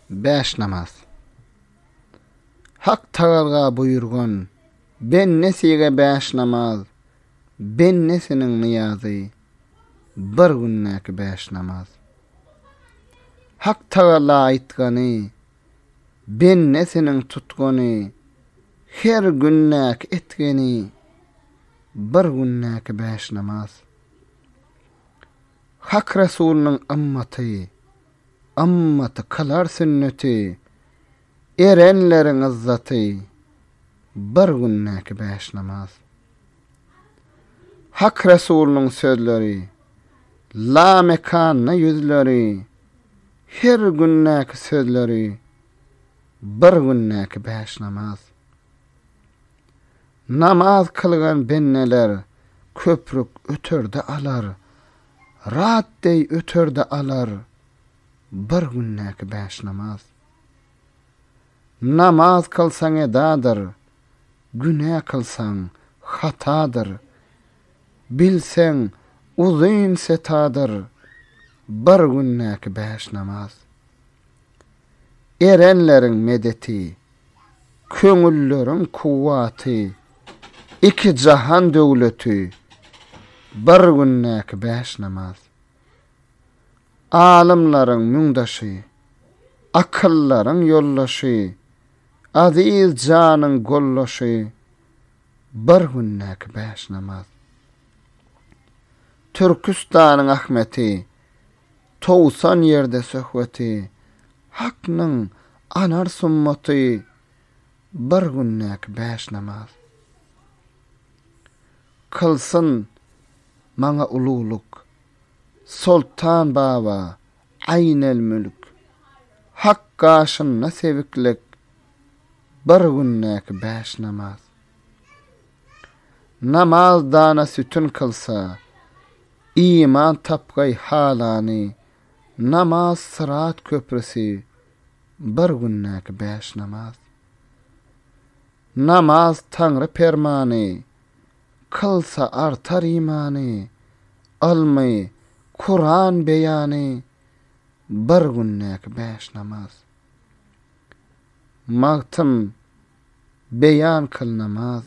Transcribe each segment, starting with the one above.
Bäş namaz. Hak Tagala buýurgan, Bendesige bäş namaz, bendesiniň nyýazy, bir gündäki bäş namaz. Hak Tagala aýtgany, Bendesiniň tutgany, her gündäki etgeni, bir gündäki bäş namaz. Hak Resulynyň ymmaty, ymmaty kylar sünneti, erenleriň yzzaty, bir gündäki bäş namaz. Hak Resulynyň sözleri, lamekanly ýüzleri, her gündäki sözleri, bir gündäki bäş namaz. Namaz kylgan bendeler köprük öterde alar, rat deý öterde alar bir gündäki bäş namaz. Namaz kylsaň edadyr, günä kylsaň hatadyr, bilseň uzyn setadyr bir gündäki bäş namaz. Erenleriň medeti. Köňülleriň kuwwaty, iki jahan döwleti, bir gündäki bäş namaz. Alymlaryň müňdaşy, akyldaryň ýoldaşy, aziz janyň goldaşy, bir gündäki bäş namaz. Türküstanyň Ahmeti, Towsan ýerde söhbeti, Haknyň anar sunnaty, Bir gündäki bäş namaz. Kylsyn maňa ululyk, Soltan baba, Aýnelmülk, Hak gaşynda sebiklik, Bir gündäki bäş namaz. Namaz dana sütün kylsa, iman tapgaý halany, Namaz syrat köprüsi, bir gündäki bäş namaz. Namaz Taňry permany, kylsa artar imany, Ylmy, Kuran beýany, bir gündäki bäş namaz. Magtym. beýan kyl namaz.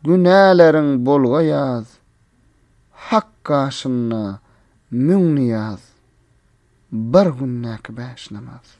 Günäleriň bolga ýaz, Hak gaşynda müň nyýaz, Bir gündäki bäş namaz.